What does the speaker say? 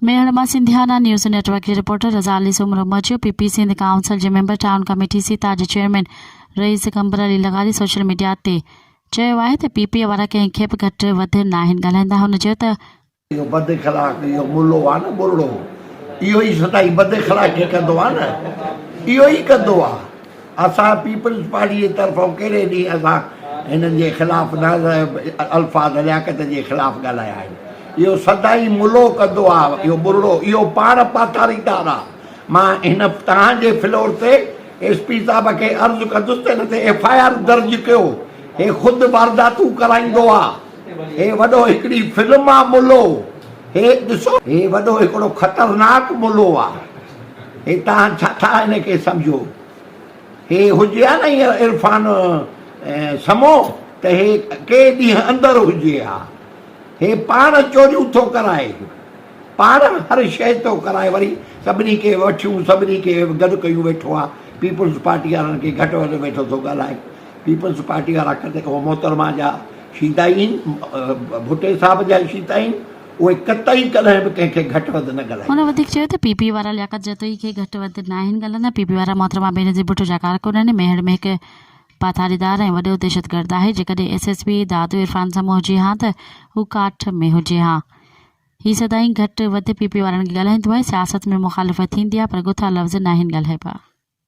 ميهڙ مان Sindhiana news network جي reporter Raza Ali Soomro مچيو پي پي سنڌ ڪائونسل جي ميمبر ٽائون ڪميٽي سيتا جي چيئرمين رئيس قمبر علي لغاري سوشل ميڊيا تي چيو آهي ته پي پي وارا ڪنهن کي به گهٽ وڌ ناهن ڳالهائيندا هن چيو ته اهو بد اخلاق اهو ملو آ نه ٻرڙو اهو ئي سدائين بد اخلاقي ڪندو آ نه اهو ئي ڪندو آ. اسان پيپلز پارٽي جي طرفان ڪيڏي ڏينهن اڳان هنن جي خلاف نه الفاظ لياقت جي خلاف ڳالهايا آهن. اهو سدائين ملو ڪندو آ اهو ٻرڙو اهو پاڻ پاتاريدار آ. مان هن توهان جي فلور تي ايس پي صاحب کي عرض ڪندس ته هن تي ايف آء آر درج ڪيو هي خود وارداتون ڪرائيندو آ هي وڏو هڪڙي فلم آ ملو هي ڏسو هي وڏو هڪڙو خطرناڪ ملو آ. هي توهان ڇا ٿا هن کي سمجهو؟ هي هجي ها نه اهو عرفان سمو ته هي ڪي ڏينهن اندر هجي ها. هي پاڻ چوريون ٿو ڪرائي، پاڻ هر شيء ٿو ڪرائي وري سڀني کي وٺيون سڀني کي گڏ ڪيون ويٺو آ، پيپلز پارٽي وارن کي گهٽ وڌ ويٺو ٿو ڳالهائي. پيپلز پارٽي وارا ڪڏهن اهو محترمه جا شيدا ئي آهن، ڀٽي صاحب جا ئي شيدا آهن. اهي قطعي ڪڏهن به ڪنهن کي گهٽ وڌ نه ڳالهائيندا. هن وڌيڪ چيو ته پي پي وارا لياقت جتوئي کي گهٽ وڌ ناهن ڳالهائيندا، پي پي وارا محترمه بينظير ڀٽو جا ڪارڪنن ميهڙ ۾ هڪ پاٿاريدار ۽ وڏو دهشتگرد آهي، جيڪڏهن S S P Dadu Irfan Samo هجي ها ته هو ڪاٺ ۾ هجي ها. هي سدائين گهٽ وڌ پي پي وارن کي ڳالهائيندو آهي، سياست ۾ مخالفت ٿيندي آهي پر ڳٿا لفظ ناهن ڳالهائبا.